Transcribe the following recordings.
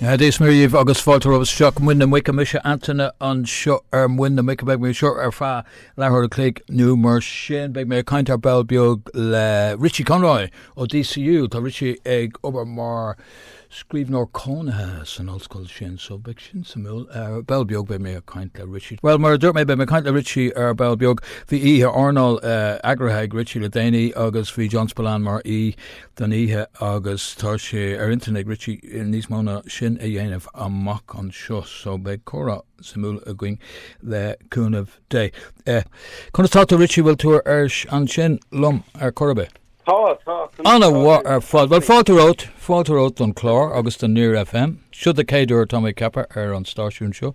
Dia is Muire daoibh agus fáilte romhaibh isteach Muin na Muice mise Antaine anseo ar Muin na Muice beidh mé anseo ar feadh leathuair an chloig nó mar sin beidh mé ag caint ar ball beag le Richie Conroy ó DCU Tá Richie ag obair mar scríbhneoir cónaithe san ollscoil sin so beidh sin suimiúil. Ar ball beag beidh mé ag caint le Richie. Bhuel, mar a dúirt mé, beidh mé ag caint le Richie ar ball beag. Bhí oíche airneáil eagraithe ag Richie le déanaí agus bhí John Spillane mar aoi don oíche agus tá sé ar intinn ag Richie níos mó ná sin a dhéanamh amach anseo so beidh comhrá suimiúil againn le cúnamh Dé. Conas tá tú Richie, bhfuil tú ar ais ansin liom ar chor ar bith? Tá, tá, tá. An-mhaith ar fad. Bhuel, fáilte romhat, fáilte romhat don chlár agus do Near FM. Seo do chéad uair tá mé ag ceapadh ar an stáisiún seo.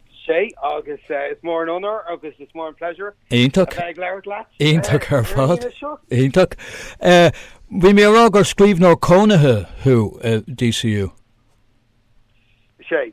Is é agus eh, is mór an onóir agus is mór an pleasure Iontach. a bheith ag labhairt leat. Iontach ar fad. Iontach. Eh, Bhí mé á rá gur scríbhneoir cónaithe thú, eh, DCU. Is ea.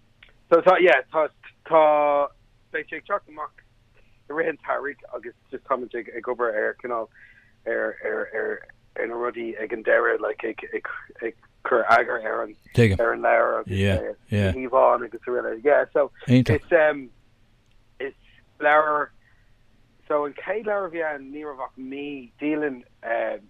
So tá, yeah, tá, tá, beidh sé ag teacht amach i rith an tsamhraidh agus just tá muid ag, ag obair ar cineál, ar, ar, ar, ar na rudaí ag an deireadh, like, ag, ag, ag cur eagar ar an, ar an leabhar agus, yeah, yeah, ar na híomhánna agus a rinne, yeah, so it's, um, it's leabhar, so an chéad leabhar a bhí ann ní raibh ach mí, dialann, um,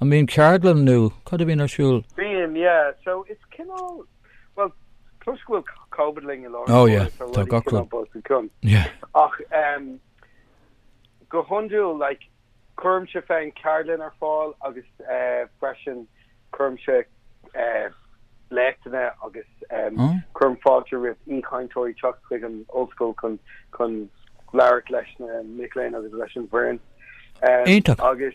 An mbíonn ceardlann nó cad a bhíonn ar siúl? Bíonn, yeah. So is cineál, bhuel, toisc go bhfuil Covid linn i láthair na huaire tá rudaí cineál bunoscionn. Ach go hiondúil, like, cuirimse féin ceardlann ar fáil agus freisin cuirimse léachtanna agus cuirim fáilte roimh aoichainteoirí teacht chuig an ollscoil chun labhairt leis na mic léinn agus leis an bhfoireann. Iontach! Agus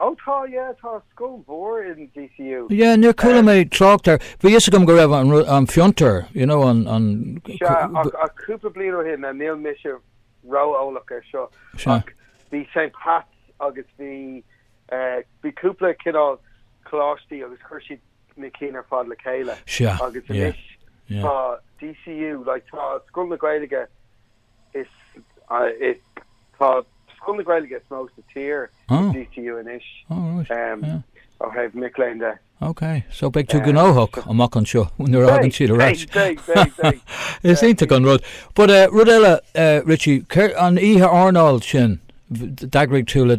Oh tá, yeah, tá scoil mhór in DCU. Yeah, níor chuala mé trácht air. Bhí a fhios agam go raibh an fiontar, you know, an, an. Sea, ach, ach cúpla bliain ó shin, now níl mise ró-eolach air seo, ach bhí Saint Pat's agus bhí, eh, bhí cúpla cineál coláistí agus chuir siad na cinn ar fad le chéile. Sea, yeah, yeah. Agus anois tá DCU, like, tá Scoil na Gaeilge Is é tá scoil na Gaeilge is mó sa tír i DCU anois ó thaobh mic léinn de. Ok, so beidh tú gnóthach amach anseo nuair a thagann siad ar ais. Is iontach an rud. But uh, rud eile uh, Richie, an oíche airneáil sin d'eagraigh tú le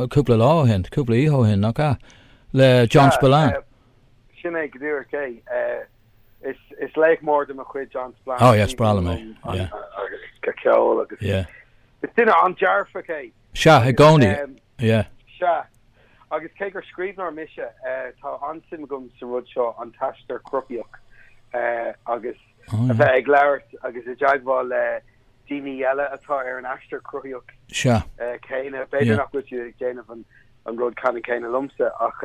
cúpla lá ó shin, cúpla oíche ó shin nach ea le John ah, Spillane. Eh, sin é go díreach é. Eh, Is laoch mór de mo chuid John Spillane, is aoibhinn liom a cheol agus is duine an-dearfach é. Sea, i gcónaí, ie. Sea. Agus cé gur scríbhneoir mise, tá an-suim agam sa rud seo, an t-aistear cruthaitheach agus a bheith ag labhairt agus i dteagmháil le daoine eile atá ar an aistear cruthaitheach céanna. B'fhéidir nach bhfuil siad ag déanamh an rud céanna liomsa ach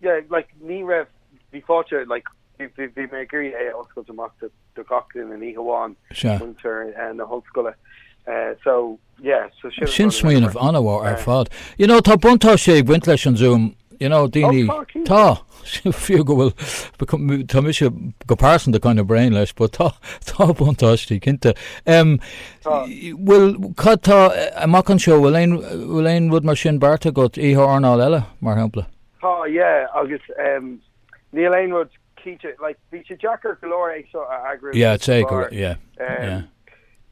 Yeah like ní raibh, bhí fáilte like bhí bhí mé ag iarraidh é a oscailt amach do do gach duine ní hamháin Sea. muintir eh na hollscoile eh so yeah so sin an Sin rud a rinne mé. smaoineamh an-mhór ar Eh. fad. You know, tá buntáiste ag baint leis an Zoom, you know, Oh daoine, tá tá, cinnte. fiú go bhfuil, becau- m- tá mise go pearsanta kind of bréan leis but tá tá buntáistí cinnte. Em, Tá. bhfuil, cad tá amach anseo, bhfuil aon bhfuil aon rud mar sin beartaithe agat, oíche airneáil eile, mar shampla? Tá, yeah, agus ehm níl aon rud cinnte, like bhí sé deacair go leor é seo a eagrú Yeah, it's a go, yeah, yeah.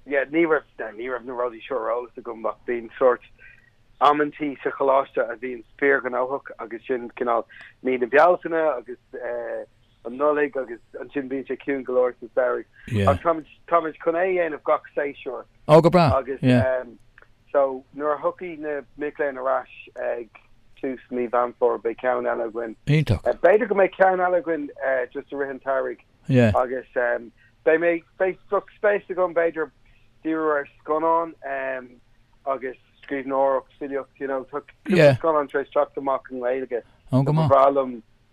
Yeah, ní raibh, yeah, ní raibh na rudaí seo ar eolas agam ach bíonn sórt amantaí sa choláiste a bhíonn fíorghnóthach agus sin cineál mí na Bealtaine agus eh, an Nollaig agus ansin bíonn sé ciúin go leor sa samhradh ach táimid táimid chun é a dhéanamh gach séasúr agus so nuair a thiocfaidh na mic léinn ar ais ag tús mí Mheán Fómhair beidh ceann eile againn. Iontach. B'fhéidir go mbeidh ceann eile againn just i rith an tsamhraidh agus beidh mé beidh bheadh spéis agam b'fhéidir díriú ar scannán agus scríbhneoireacht filíocht you know tá cúpla scannán tar éis teacht amach i nGaeilge tá sé breá liom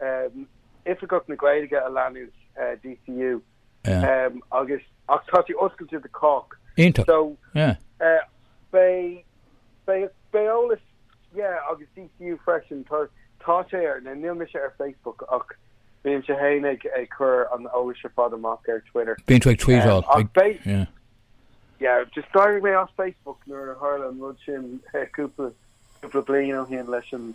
Oifigeach na Gaeilge a leanúint, DCU, agus ach tá sé oscailte do chách. Iontach. So, beidh, beidh eolas, yeah, agus DCU freisin, tá, tá sé ar, now níl mise ar Facebook ach bímse fhéin ag cur an eolais ar fad amach ar Twitter. Bíonn tú ag tweetáil. Ach beidh, yeah. Yeah, just d'éirigh mé as Facebook nuair a tharla an rud sin cúpla, cúpla bliain ó shin leis an,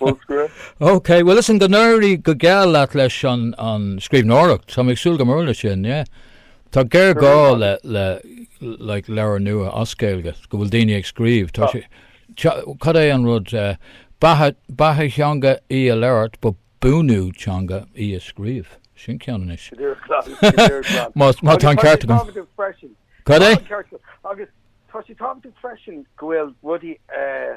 Bolscaire. OK, bhuel listen, go n-éirí go geal leat leis an, an scríbhneoireacht. Tá mé ag súil go mór le sin, yeah. Tá géarghá le, le, like, leabhar nua as Gaeilge, go bhfuil daoine ag scríobh. Tá sé, cad é an rud, uh, beatha, beatha teanga í a labhairt, but buanú teanga í a scríobh. Sin ceann anois. Go díreach glan, go díreach glan. Má, má tá an ceart agam. Cad é? Agus tá sé tábhachtach freisin go bhfuil rudaí, uh,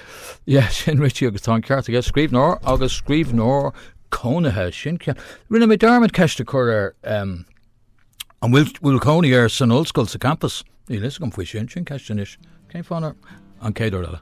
Ie, sin Richie agus tá an ceart aige. Scríbhneoir agus scríbhneoir cónaithe. Sin ce- Rinne mé dearmad ceist a chur air em, an bhfuil bhfuil cónaí air san ollscoil sa campas. Níl fhios agam faoi sin. Sin ceist anois. Cén fáth nár an céad uair eile.